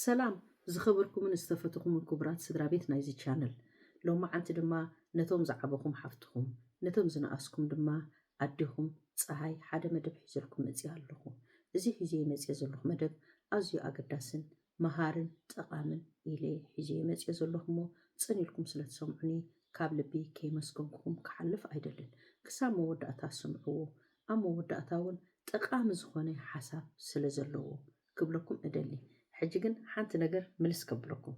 ሰላም ዝኸበርኩምን ዝተፈትኹምን ክቡራት ስድራ ቤት ናይዚ ቻነል ሎማዓንቲ ድማ ነቶም ዝዓበኹም ሓፍትኹም ነቶም ዝነኣስኩም ድማ ኣዴኹም ፀሃይ ሓደ መደብ ሒዘልኩም መፅኣ ኣለኹ እዚ ሒዘ መፅኦ ዘለኹ መደብ ኣዝዩ ኣገዳስን መሃርን ጠቓምን ኢለ ሒዘዮ መጺኤ ዘለኹ እሞ ጽን ኢልኩም ስለ ትሰምዑኒ ካብ ልቢ ከይመስገንኩኹም ክሓልፍ ኣይደልን ክሳብ መወዳእታ ስምዕዎ ኣብ መወዳእታ ውን ጠቓሚ ዝኾነ ሓሳብ ስለ ዘለዎ ክብለኩም እደሊ ሕጂ ግን ሓንቲ ነገር ምልስ ከብለኩም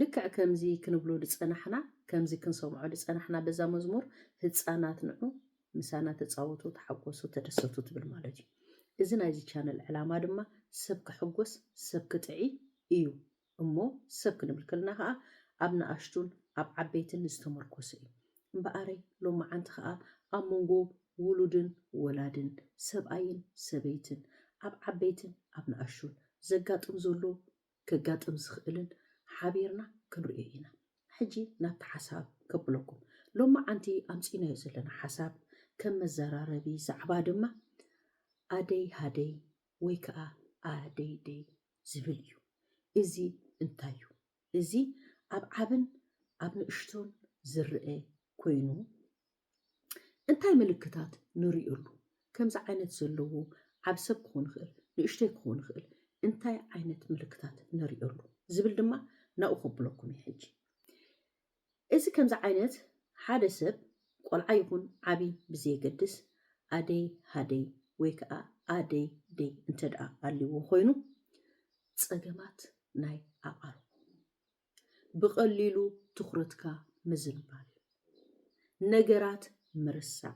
ልክዕ ከምዚ ክንብሎ ድጸናሕና ከምዚ ክንሰምዖ ድጸናሕና በዛ መዝሙር ህጻናት ንዑ ምሳና ተጻወቱ ተሓጎሱ ተደሰቱ ትብል ማለት እዩ እዚ ናይዚ ቻነል ዕላማ ድማ ሰብ ከሕጎስ ሰብ ክጥዒ እዩ እሞ ሰብ ክንብል ከለና ከኣ ኣብ ንኣሽቱን ኣብ ዓበይትን ዝተመርኮሰ እዩ እምበኣረይ ሎምዓንቲ ከኣ ኣብ መንጎ ውሉድን ወላድን ሰብኣይን ሰበይትን ኣብ ዓበይትን ኣብ ንኣሽቱን ዘጋጥም ዘሎ ከጋጥም ዝኽእልን ሓቢርና ክንርእዮ ኢና። ሕጂ ናብቲ ሓሳብ ከብለኩም። ሎማዓንቲ ኣምጺእናዮ ዘለና ሓሳብ ከም መዘራረቢ ዛዕባ ድማ ኣደይ ሃደይ ወይ ከኣ ኣደይደይ ዝብል እዩ። እዚ እንታይ እዩ? እዚ ኣብ ዓብን ኣብ ንእሽቶን ዝረኣ ኮይኑ እንታይ ምልክታት ንርእየሉ? ከምዚ ዓይነት ዘለዎ ዓቢ ሰብ ክኾን ይኽእል፣ ንእሽተይ ክኾን ይኽእል፣ እንታይ ዓይነት ምልክታት ንርእየሉ? ዝብል ድማ ናብኡ ከብለኩም እየ ሕጂ። እዚ ከምዚ ዓይነት ሓደ ሰብ ቆልዓ ይኹን ዓቢ ብዘየገድስ ኣደይ ሃደይ ወይ ከዓ ኣደይ ደይ እንተደኣ ኣልዎ ኮይኑ ጸገማት ናይ ኣቓርቦ ብቐሊሉ ትኹረትካ ምዝንባል፣ ነገራት ምርሳዕ፣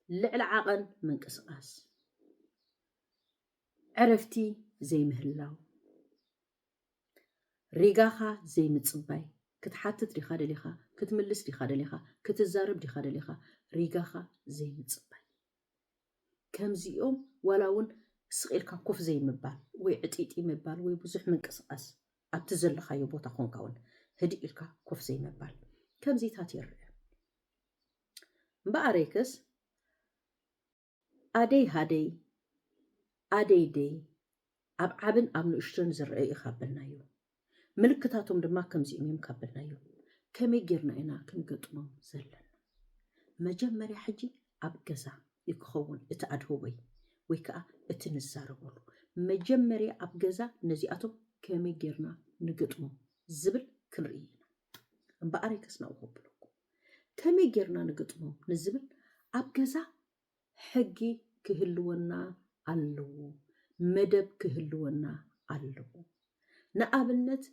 ልዕሊ ዓቐን ምንቅስቓስ፣ ዕረፍቲ ዘይምህላው፣ ሪጋኻ ዘይምጽባይ፣ ክትሓትት ዲኻ ደሊኻ፣ ክትምልስ ዲኻ ደሊኻ፣ ክትዛረብ ዲኻ ደሊኻ፣ ሪጋኻ ዘይምጽባይ፣ ከምዚኦም ዋላ እውን ስቕ ኢልካ ኮፍ ዘይምባል ወይ ዕጢጢ ምባል ወይ ብዙሕ ምንቅስቓስ ኣብቲ ዘለኻዮ ቦታ ኾንካ ውን ህድእ ኢልካ ኮፍ ዘይምባል ከምዚታት ይርእ እምበኣረይክስ ኣደይ ሃደይ ኣደይ ደይ ኣብ ዓብን ኣብ ንእሽቶን ዝርእ እዩ ካብ በልናዮ ምልክታቶም ድማ ከምዚኦም እዮም ካብ በልናዮ ከመይ ጌርና ኢና ክንገጥሞም ዘለና መጀመርያ ሕጂ ኣብ ገዛ እዩ ክኸውን እቲ ኣድህቦይ ወይ ከኣ እቲ ንዛረበሉ። መጀመርያ ኣብ ገዛ ነዚኣቶም ከመይ ጌርና ንግጥሞ ዝብል ክንርኢ ኢና። እምበኣር እየ ከስናኡ ከብለኩም። ከመይ ጌርና ንግጥሞም ንዝብል ኣብ ገዛ ሕጊ ክህልወና ኣለዎ፣ መደብ ክህልወና ኣለዎ። ንኣብነት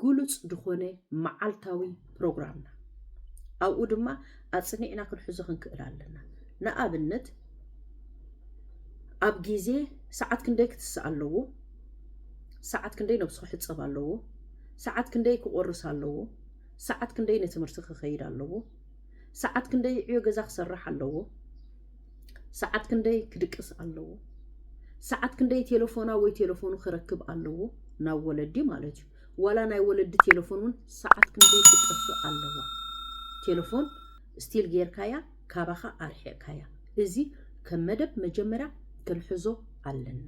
ግሉጽ ድኾነ መዓልታዊ ፕሮግራምና ኣብኡ ድማ ኣጽኒዕና ክንሕዞ ክንክእል ኣለና ንኣብነት ኣብ ግዜ ሰዓት ክንደይ ክትስእ ኣለዎ ሰዓት ክንደይ ነብሱ ክሕጸብ ኣለዎ ሰዓት ክንደይ ክቆርስ ኣለዎ ሰዓት ክንደይ ንትምህርቲ ክኸይድ ኣለዎ ሰዓት ክንደይ ዕዮ ገዛ ክሰርሕ ኣለዎ ሰዓት ክንደይ ክድቅስ ኣለዎ፣ ሰዓት ክንደይ ቴለፎና ወይ ቴለፎኑ ክረክብ ኣለዎ፣ ናብ ወለዲ ማለት እዩ። ዋላ ናይ ወለዲ ቴለፎን እውን ሰዓት ክንደይ ክትጠፍእ ኣለዋ። ቴለፎን ስቲል ጌርካያ ካባኻ ኣርሒቕካያ። እዚ ከም መደብ መጀመርያ ክንሕዞ ኣለና።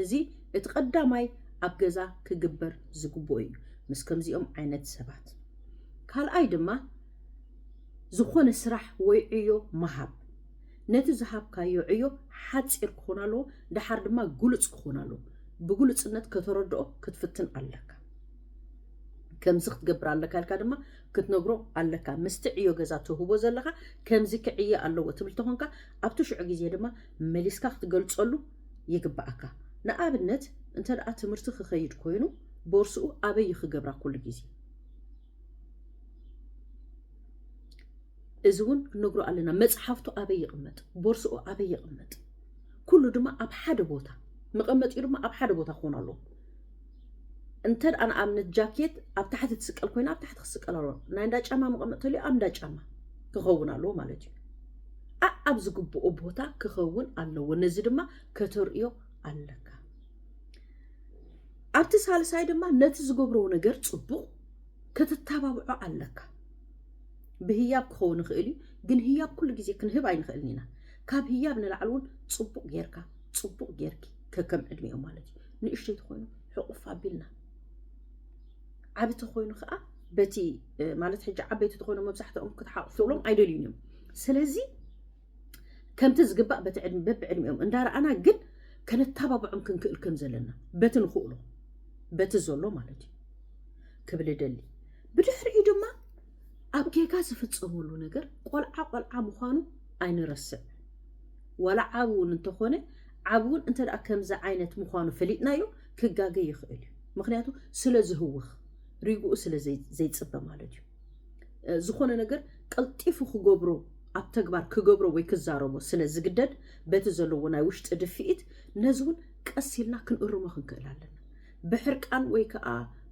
እዚ እቲ ቀዳማይ ኣብ ገዛ ክግበር ዝግብኦ እዩ ምስ ከምዚኦም ዓይነት ሰባት። ካልኣይ ድማ ዝኾነ ስራሕ ወይ ዕዮ ምሃብ ነቲ ዝሃብካዮ ዕዮ ሓጺር ክኾን ኣለዎ፣ ደሓር ድማ ግሉጽ ክኾን ኣለዎ። ብግሉጽነት ከተረድኦ ክትፍትን ኣለካ። ከምዚ ክትገብር ኣለካ ኢልካ ድማ ክትነግሮ ኣለካ። ምስቲ ዕዮ ገዛ ትህቦ ዘለኻ ከምዚ ክዕየ ኣለዎ ትብል ተኾንካ ኣብቲ ሽዑ ግዜ ድማ መሊስካ ክትገልጸሉ ይግብኣካ። ንኣብነት እንተደኣ ትምህርቲ ክኸይድ ኮይኑ ቦርስኡ ኣበይ እዩ ክገብራ ኩሉ ግዜ? እዚ እውን ክንነግሮ ኣለና። መጽሓፍቱ ኣበይ ይቕመጥ፣ ቦርስኡ ኣበይ ይቕመጥ፣ ኩሉ ድማ ኣብ ሓደ ቦታ መቐመጢኡ ድማ ኣብ ሓደ ቦታ ክኾን ኣለዎ። እንተ ደኣ ንኣብነት ጃኬት ኣብ ታሕቲ ትስቀል ኮይና ኣብ ታሕቲ ክስቀል ኣለዎ። ናይ እንዳ ጫማ መቐመጢ ተልዩ ኣብ እንዳ ጫማ ክኸውን ኣለዎ ማለት እዩ። ኣብ ዝግብኦ ቦታ ክኸውን ኣለዎ። ነዚ ድማ ከተርእዮ ኣለካ። ኣብቲ ሳልሳይ ድማ ነቲ ዝገብሮ ነገር ጽቡቕ ክትታባብዖ ኣለካ። ብህያብ ክኸውን ይኽእል እዩ፣ ግን ህያብ ኩሉ ግዜ ክንህብ ኣይንኽእልን ኢና። ካብ ህያብ ንላዕሊ እውን ጽቡቕ ጌርካ ጽቡቕ ጌርኪ ከከም ዕድሜኦም ማለት እዩ። ንእሽተይ ተኾይኑ ሕቑፍ ኣቢልና ዓቢ ተኾይኑ ከዓ በቲ ማለት ሕጂ ዓበይቲ ተኾይኖም መብዛሕትኦም ክትሓቑፍሎም ኣይደልዩን እዮም። ስለዚ ከምቲ ዝግባእ በብዕድሚኦም እንዳረኣና ግን ከነታባብዖም ክንክእል ከም ዘለና በቲ ንኽእሎ በቲ ዘሎ ማለት እዩ ክብል እደሊ ብድሕሪኡ ድማ ኣብ ጌጋ ዝፍጸመሉ ነገር ቆልዓ ቆልዓ ምዃኑ ኣይንረስዕ ዋላ ዓብ እውን እንተኾነ ዓብ እውን እንተ ከምዚ ዓይነት ምዃኑ ፈሊጥናዮ ክጋገ ይኽእል እዩ ምክንያቱ ስለ ዝህውኽ ሪግኡ ስለ ዘይፅበ ማለት እዩ ዝኾነ ነገር ቀልጢፉ ክገብሮ ኣብ ተግባር ክገብሮ ወይ ክዛረቦ ስለ ዝግደድ በቲ ዘለዎ ናይ ውሽጢ ድፍኢት ነዚ እውን ቀስ ኢልና ክንእርሞ ክንክእል ኣለና። ብሕርቃን ወይ ከኣ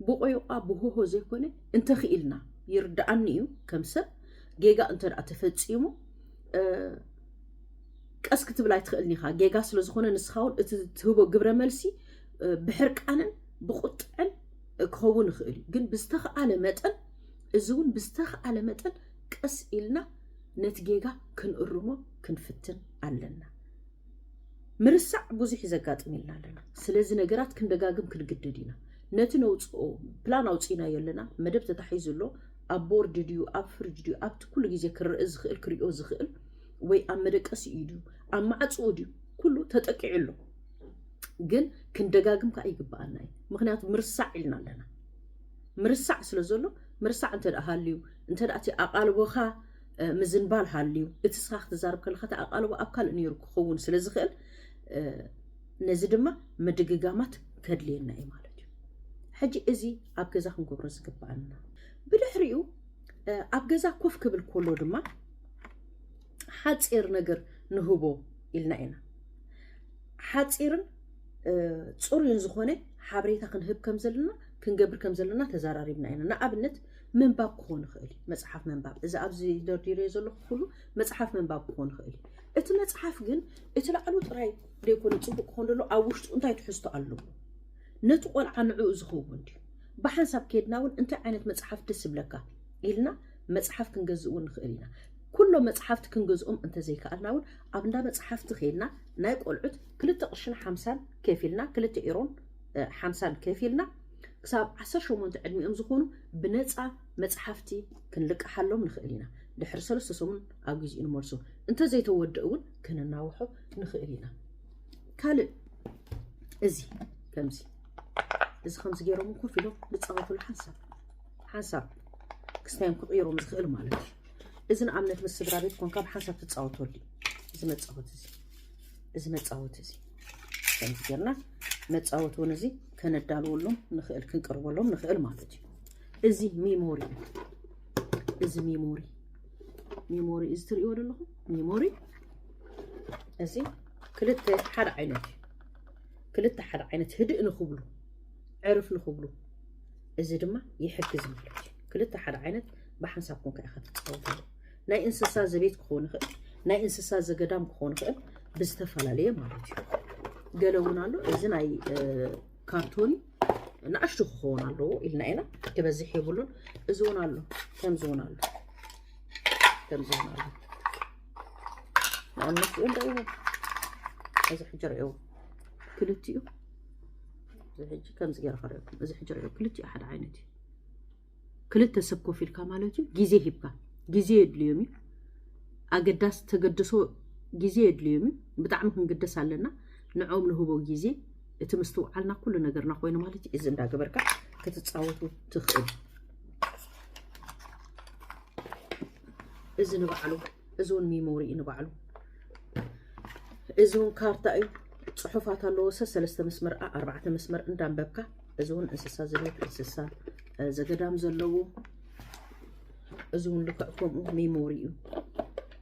ብቆይቋ ብሆሆ ዘይኮነ እንተ ክኢልና ይርደኣኒ እዩ ከም ሰብ ጌጋ እንተ ደኣ ተፈጺሙ ቀስ ክትብል ኣይትኽእልን ኢኻ ጌጋ ስለ ዝኾነ ንስኻ እውን እቲ ትህቦ ግብረ መልሲ ብሕርቃንን ብቁጥዕን ክኸውን ይኽእል እዩ ግን ብዝተኽኣለ መጠን እዚ እውን ብዝተኽኣለ መጠን ቀስ ኢልና ነቲ ጌጋ ክንእርሞ ክንፍትን ኣለና። ምርሳዕ ብዙሕ ዘጋጥም ኢልና ኣለና። ስለዚ ነገራት ክንደጋግም ክንግደድ ኢና። ነቲ ነውጽኦ ፕላን ኣውጺእናዮ ኣለና፣ መደብ ተታሒዙ ኣሎ፣ ኣብ ቦርድ ድዩ ኣብ ፍርጅ ድዩ ኣብቲ ኩሉ ግዜ ክረእ ዝኽእል ክሪኦ ዝኽእል ወይ ኣብ መደቀሲ እዩ ድዩ ኣብ ማዕጽኡ ድዩ ኩሉ ተጠቂዑ ኣሎ። ግን ክንደጋግም ከኣ ይግብኣና እዩ። ምክንያቱ ምርሳዕ ኢልና ኣለና። ምርሳዕ ስለ ዘሎ ምርሳዕ እንተ ሃልዩ እንተ እቲ ኣቓልቦኻ ምዝንባል ሃልዩ እቲ ስኻ ክትዛርብ ከለኻ እቲ ኣቓልቦ ኣብ ካልእ ነይሩ ክኸውን ስለ ዝኽእል ነዚ ድማ ምድግጋማት ከድልየና እዩ ማለት እዩ ሕጂ እዚ ኣብ ገዛ ክንገብሮ ዝግብኣና ብድሕሪኡ ኣብ ገዛ ኮፍ ክብል ከሎ ድማ ሓፂር ነገር ንህቦ ኢልና ኢና ሓፂርን ፅሩይን ዝኾነ ሓበሬታ ክንህብ ከም ዘለና ክንገብር ከም ዘለና ተዘራሪብና ኢና ንኣብነት ምንባብ ክኾን ይኽእል እዩ መፅሓፍ ምንባብ እዚ ኣብዚ ደርዲረዮ ዘለኹ ኩሉ መፅሓፍ ምንባብ ክኾን ይኽእል እዩ እቲ መፅሓፍ ግን እቲ ላዕሉ ጥራይ ዘይኮነ ፅቡቅ ክኾን ደሎ ኣብ ውሽጡ እንታይ ትሕዝቶ ኣለዎ ነቲ ቆልዓ ንዕኡ ዝኸውን ድዩ ብሓንሳብ ከድና እውን እንታይ ዓይነት መፅሓፍ ደስ ይብለካ ኢልና መፅሓፍ ክንገዝእ እውን ንኽእል ኢና ኩሎ መፅሓፍቲ ክንገዝኦም እንተዘይከኣልና እውን ኣብ እንዳ መፅሓፍቲ ከይድና ናይ ቆልዑት ክልተ ቅርሽን ሓምሳን ከፊልና ክልተ ኢሮን ሓምሳን ከፊልና ክሳብ ዓሰርተ ሸሞንተ ዕድሚኦም ዝኾኑ ብነጻ መጽሓፍቲ ክንልቅሓሎም ንኽእል ኢና። ድሕሪ ሰለስተ ሰሙን ኣብ ግዜኡ ንመልሶ። እንተ ዘይተወድእ እውን ከነናውሖ ንኽእል ኢና። ካልእ እዚ ከምዚ እዚ ከምዚ ገይሮም ኮፍ ኢሎም ዝጻወቱሉ ሓንሳብ ሓንሳብ ክስታዮም ክቕይሮም ዝኽእል ማለት እዩ። እዚ ንኣብነት ምስ ስድራ ቤት ኮንካ ብሓንሳብ ትጻወተሉ እዩ እዚ መጻወቲ እዚ። እዚ መፃወቲ እዚ ከምዚ ጌርና መፃወቲ እውን እዚ ከነዳልወሎም ንኽእል ክንቅርበሎም ንኽእል ማለት እዩ እዚ ሚሞሪ እዚ ሚሞሪ ሚሞሪ እዚ ትሪእዎ ዘለኹም ሚሞሪ እዚ ክልተ ሓደ ዓይነት እዩ ክልተ ሓደ ዓይነት ህድእ ንኽብሉ ዕርፍ ንኽብሉ እዚ ድማ ይሕግዝ ማለት እዩ ክልተ ሓደ ዓይነት ብሓንሳብኩም ከ ኢኻ ትፃወትሉ ናይ እንስሳ ዘቤት ክኾን ይኽእል፣ ናይ እንስሳ ዘገዳም ክኾን ይኽእል፣ ብዝተፈላለየ ማለት እዩ። ገለ እውን ኣሎ እዚ ናይ ካርቶኒ ንኣሽቱ ክኸውን ኣለዎ ኢልና ኢና ክበዝሕ የብሉን። እዚ እውን ኣሎ ከምዚ እውን ኣሎ ከምዚ እውን ኣሎ ንኣብነት እኦም ዳእዎ እዚ ሕጂ ርዕዎ ክልቲኡ እዚ ሕጂ ከምዚ ገይረ ከርእኩም እዚ ሕጂ ርዕዎ ክልቲኡ ሓደ ዓይነት እዩ። ክልተ ሰብ ኮፍ ኢልካ ማለት እዩ ግዜ ሂብካ ግዜ የድልዮም እዩ ኣገዳስ ተገድሶ ግዜ የድልዮም እዩ ብጣዕሚ ክንግደስ ኣለና ንዕኦም ንህቦ ግዜ እቲ ምስትውዓልና ኩሉ ነገርና ኮይኑ ማለት እዩ እዚ እንዳገበርካ ክትፃወቱ ትኽእል እዚ ንባዕሉ እዚ እውን ሚሞሪ እዩ ንባዕሉ እዚ እውን ካርታ እዩ ፅሑፋት ኣለዎ ሰ ሰለስተ መስመር ኣርባዕተ መስመር እንዳንበብካ እዚ እውን እንስሳ ዘቤት እንስሳ ዘገዳም ዘለዎ እዚ እውን ልክዕ ከምኡ ሜሞሪ እዩ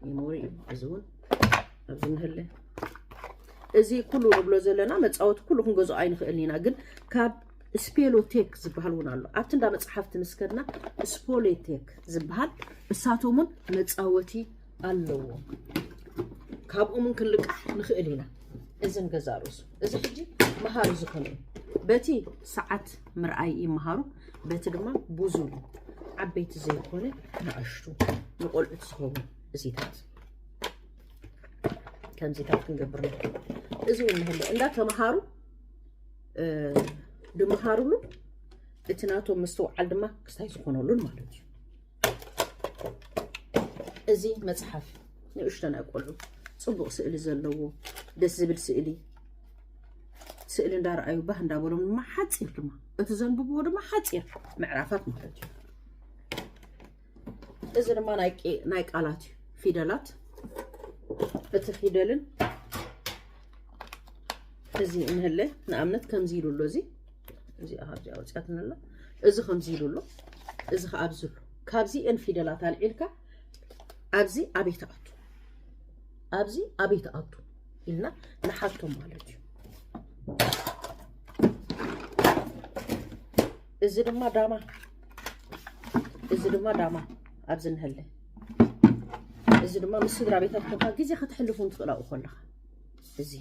ሜሞሪ እዩ እዚ እውን ኣብዚ ንህለ እዚ ኩሉ ንብሎ ዘለና መፃወቲ ኩሉ ክንገዝኦ ኣይንኽእልን ኢና ግን ካብ ስፔሎቴክ ዝበሃል እውን ኣሎ ኣብቲ እንዳ መፅሓፍቲ ምስ ከድና ስፖሌቴክ ዝበሃል እሳቶም እውን መፃወቲ ኣለዎ ካብኦም ን ክንልቃሕ ንኽእል ኢና እዚ ንገዛ ርእሱ እዚ ሕጂ መሃሪ ዝኾነ እዩ በቲ ሰዓት ምርኣይ ይመሃሩ በቲ ድማ ብዙ ዓበይቲ ዘይኮነ ንኣሽቱ ንቆልዑት ዝኸውን እዚታት ከምዚታት ክንገብር ንኽእል እዚ እውን ንህለ እንዳተምሃሩ ድምሃርሉ እቲ ናቶም ምስትውዓል ድማ ክስታይ ዝኾነሉን ማለት እዩ እዚ መፅሓፍ ንእሽቶ ናይ ቆልዑ ፅቡቕ ስእሊ ዘለዎ ደስ ዝብል ስእሊ ስእሊ እንዳረኣዩ ባህ እንዳበሎም ድማ ሓፂር ድማ እቲ ዘንብብዎ ድማ ሓፂር ምዕራፋት ማለት እዩ እዚ ድማ ናይ ቃላት እዩ ፊደላት እቲ ፊደልን እዚ እንህለ ንኣብነት ከምዚ ኢሉ ኣሎ እዚ እዚኣ ካብዚኣ ወፅያትና ኣሎ እዚ ከምዚ ኢሉ ኣሎ እዚ ከዓ ኣብዚ ኣሎ ካብዚ እን ፊደላት ኣልዒልካ ኣብዚ ኣበይ ትኣቱ ኣብዚ ኣበይ ትኣቱ ኢልና ንሓቶም ማለት እዩ እዚ ድማ ዳማ እዚ ድማ ዳማ ኣብዚ ንህለ እዚ ድማ ምስ ስድራ ቤታት ኮንካ ግዜ ከተሕልፉን ትኽእላኡ ከለኻ እዚ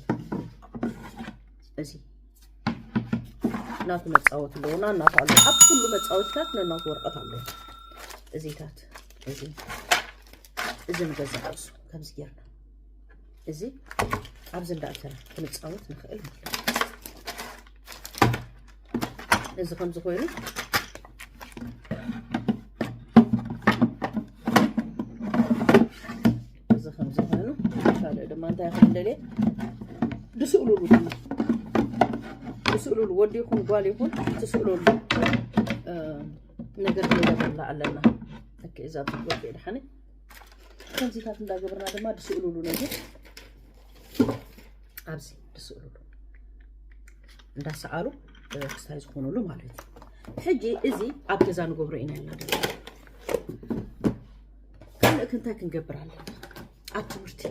እዚ ናቱ መፃወቲ ኣለዎ ናናቱ ኣሎ ኣብ ኩሉ መፃወቲታት ነናቱ ወረቐት ኣለዎ እዚታት እዚ እዚ ንገዛ ርእሱ ከምዚ ጌርና እዚ ኣብዚ እንዳእተና ክንፃወት ንኽእል ማለት እዩ እዚ ከምዚ ኮይኑ እዚ ከምዚ ኮይኑ ካልእ ድማ እንታይ ክብል ደልየ ድስእሉሉ ድማ ድስእሉሉ ወዲ ይኹን ጓል ይኹን ትስእሉሉ ነገር ክንገብረላ ኣለና እከ እዛ ወዲ ድሓኒ ከምዚታት እንዳገበርና ድማ ድስእሉሉ ነገር ኣብዚ ድስእሉሉ እንዳሰኣሉ ክስታይ ዝኾኑሉ ማለት እዩ ሕጂ እዚ ኣብ ገዛ ንገብሮ ኢና ያላ ካልእ ከ እንታይ ክንገብር ኣለና ኣብ ትምህርቲ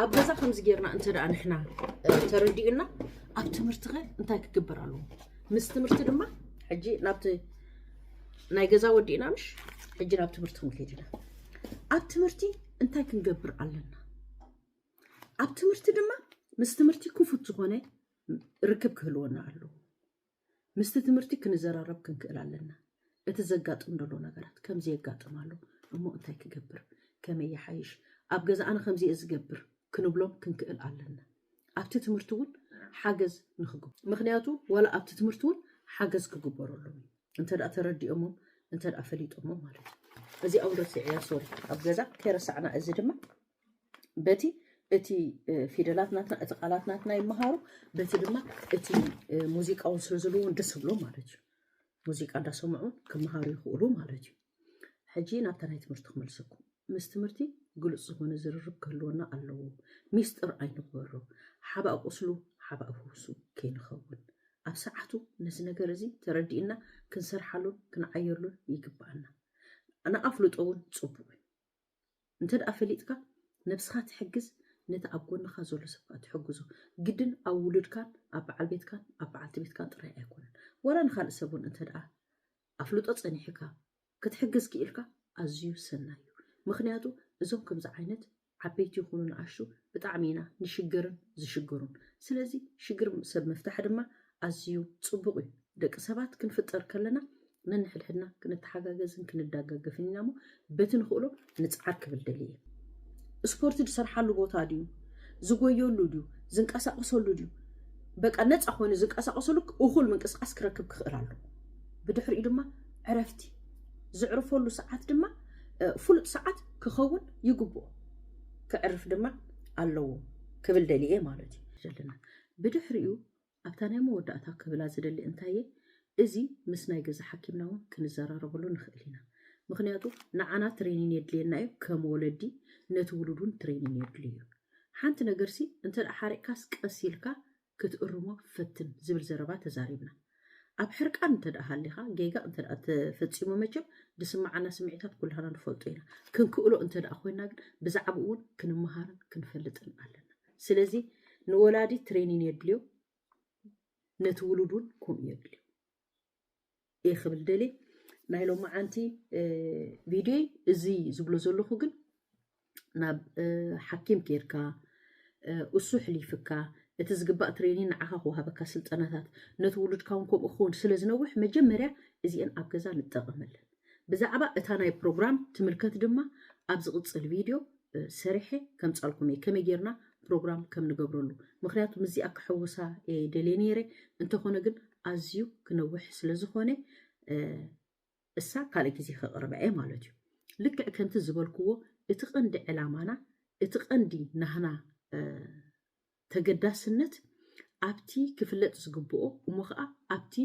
ኣብ ገዛ ከምዚ ጌርና እንተ ደኣ ንሕና ተረዲኡና ኣብ ትምህርቲ ኸ እንታይ ክግበር ኣለዎ ምስ ትምህርቲ ድማ ሕጂ ናብቲ ናይ ገዛ ወዲእና ምሽ ሕጂ ናብ ትምህርቲ ክንከይድ ኢና ኣብ ትምህርቲ እንታይ ክንገብር ኣለና ኣብ ትምህርቲ ድማ ምስ ትምህርቲ ክፉት ዝኾነ ርክብ ክህልወና ኣለዎ ምስቲ ትምህርቲ ክንዘራረብ ክንክእል ኣለና። እቲ ዘጋጥም ደሎ ነገራት ከምዚ የጋጥም ኣሎ እሞ እንታይ ክገብር ከመይ ይሓይሽ ኣብ ገዛ ኣነ ከምዚ እየ ዝገብር ክንብሎም ክንክእል ኣለና። ኣብቲ ትምህርቲ እውን ሓገዝ ንክግብ ምክንያቱ ዋላ ኣብቲ ትምህርቲ እውን ሓገዝ ክግበረሎም እዩ እንተ ተረዲኦሞም እንተ ፈሊጦሞ ማለት እዩ። እዚኣ እውን ረሲዐያ ሶሪ ኣብ ገዛ ከይረሳዕና እዚ ድማ በቲ እቲ ፊደላት ናትና እቲ ቃላት ናትና ይመሃሩ በቲ ድማ እቲ ሙዚቃውን ስለ ዘለዎም ደስ ዝብሎ ማለት እዩ ሙዚቃ እንዳሰምዑ ክመሃሩ ይኽእሉ ማለት እዩ ሕጂ ናብታ ናይ ትምህርቲ ክመልሰኩም ምስ ትምህርቲ ግሉፅ ዝኾነ ዝርርብ ክህልወና ኣለዎ ሚስጥር ኣይንግበሮ ሓባእ ቁስሉ ሓባእ ፍውሱ ከይንኸውን ኣብ ሰዓቱ ነዚ ነገር እዚ ተረዲእና ክንሰርሓሉን ክንዓየሉን ይግባኣና ንኣፍልጦ እውን ፅቡቅ እዩ እንተድኣ ፈሊጥካ ነብስኻ ትሕግዝ ነቲ ኣብ ጎንኻ ዘሎ ሰብ ከኣ ትሕግዞ ግድን ኣብ ውሉድካን ኣብ በዓል ቤትካን ኣብ በዓልቲ ቤትካን ጥራይ ኣይኮነን ዋላ ንኻልእ ሰብ ውን እንተድኣ ኣፍልጦ ጸኒሕካ ክትሕግዝ ክኢልካ ኣዝዩ ሰናይ እዩ ምኽንያቱ እዞም ከምዚ ዓይነት ዓበይቲ ይኹኑ ንኣሽቱ ብጣዕሚ ኢና ንሽገርን ዝሽገሩን ስለዚ ሽግር ሰብ ምፍታሕ ድማ ኣዝዩ ጽቡቕ እዩ። ደቂ ሰባት ክንፍጠር ከለና ነንሕድሕድና ክንተሓጋገዝን ክንዳጋገፍን ኢና እሞ በቲ ንኽእሎ ንጽዓር ክብል ደልየ እየ። ስፖርት ዝሰርሓሉ ቦታ ድዩ ዝጎየሉ ድዩ ዝንቀሳቀሰሉ ድዩ በቃ ነፃ ኮይኑ ዝንቀሳቀሰሉ እኹል ምንቅስቃስ ክረክብ ክኽእል ኣለዎ ብድሕሪኡ ድማ ዕረፍቲ ዝዕርፈሉ ሰዓት ድማ ፍሉጥ ሰዓት ክኸውን ይግብኦ ክዕርፍ ድማ ኣለዎ ክብል ደልየ ማለት እዩ ዘለና ብድሕሪኡ ኣብታ ናይ መወዳእታ ክብላ ዝደሊ እንታየ እዚ ምስ ናይ ገዛ ሓኪምና ውን ክንዘራረበሉ ንክእል ኢና ምክንያቱ ንዓና ትሬኒን የድልየና እዩ ከም ወለዲ ነቲ ውሉድ ውን ትሬኒን የድልዩ እዩ ሓንቲ ነገር ሲ እንተ ሓሪቅካስ ቀስ ኢልካ ክትእርሞ ፈትን ዝብል ዘረባ ተዛሪብና ኣብ ሕርቃን እንተ ሃሊካ ጌጋ እንተ ተፈጺሙ መቸም ድስማዓና ስሚዒታት ኩላህና ንፈልጦ ኢና ክንክእሎ እንተ ኮይና ግን ብዛዕብኡ ውን ክንመሃርን ክንፈልጥን ኣለና ስለዚ ንወላዲ ትሬኒን የድልዮ ነቲ ውሉድ እውን ከምኡ የድልዮ እየ ክብል ደልየ ናይ ሎማዓንቲ ቪድዮይ እዚ ዝብሎ ዘለኹ ግን ናብ ሓኪም ኬድካ እሱ ሕሊፍካ እቲ ዝግባእ ትሬኒ ንዓኻ ክወሃበካ ስልጠናታት ነቲ ውሉድካ እውን ከምኡ ክኸውን ስለ ዝነውሕ መጀመርያ እዚአን ኣብ ገዛ ንጠቐመለን ብዛዕባ እታ ናይ ፕሮግራም ትምልከት ድማ ኣብ ዝቕጽል ቪድዮ ሰሪሐ ከምጻልኩም እየ ከመይ ጌርና ፕሮግራም ከም ንገብረሉ ምክንያቱ ምስዚኣ ክሕውሳ እየ ደልየ ነይረ እንተኾነ ግን ኣዝዩ ክነውሕ ስለ ዝኾነ እሳ ካልእ ግዜ ከቕርባ እየ ማለት እዩ ልክዕ ከምቲ ዝበልክዎ እቲ ቀንዲ ዕላማና እቲ ቀንዲ ናህና ተገዳስነት ኣብቲ ክፍለጥ ዝግብኦ እሞ ኸኣ ኣብቲ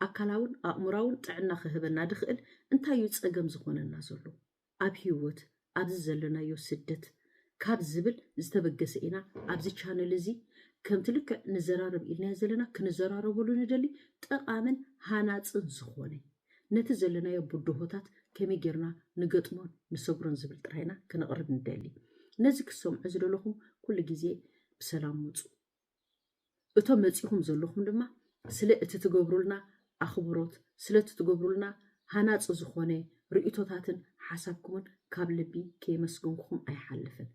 ኣካላውን ኣእምሮኣውን ጥዕና ክህበና ድኽእል እንታይ እዩ ጸገም ዝኾነና ዘሎ? ኣብ ህይወት ኣብዚ ዘለናዮ ስደት ካብ ዝብል ዝተበገሰ ኢና ኣብዚ ቻነል እዚ ከምቲ ልክዕ ንዘራረብ ኢልናዮ ዘለና ክንዘራረበሉ ንደሊ ጠቓምን ሃናጽን ዝኾነ ነቲ ዘለናዮ ብድሆታት ከመይ ጌርና ንገጥሞን ንሰግሮን ዝብል ጥራይ ኢና ክነቕርብ ንደሊ። ነዚ ክትሰምዑ ዝደለኹም ኩሉ ግዜ ብሰላም ምጹ። እቶም መጺኹም ዘለኹም ድማ ስለ እቲ ትገብሩልና ኣኽብሮት፣ ስለቲ ትገብሩልና ሃናጺ ዝኾነ ርእይቶታትን ሓሳብኩምን ካብ ልቢ ከየመስገንኩኹም ኣይሓልፍን።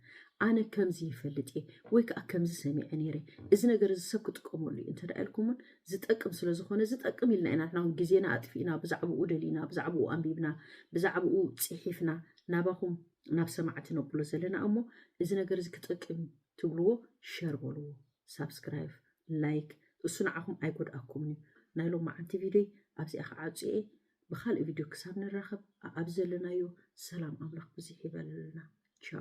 ኣነ ከምዚ ይፈልጥ እየ ወይ ከዓ ከምዚ ሰሚዐ ነይረ እዚ ነገር እዚ ሰብ ክጥቀመሉ እዩ እንተ ኢልኩም እውን ዝጠቅም ስለ ዝኾነ ዝጠቅም ኢልና ኢና ንሕና እውን ግዜና ኣጥፊእና ብዛዕባኡ ደሊና ብዛዕባኡ ኣንቢብና ብዛዕባኡ ፂሒፍና ናባኹም ናብ ሰማዕቲ ነብሎ ዘለና እሞ እዚ ነገር እዚ ክጠቅም እዩ ትብልዎ ሸር በልዎ ሳብስክራይብ ላይክ እሱ ንዓኹም ኣይጎድኣኩምን እዩ ናይ ሎማዓንቲ ቪድዮይ ኣብዚኣ ክዓጹ እየ ብካልእ ቪድዮ ክሳብ ንራከብ ኣኣብ ዘለናዮ ሰላም ኣምላክ ብዝሕ ይበለልና ቻው።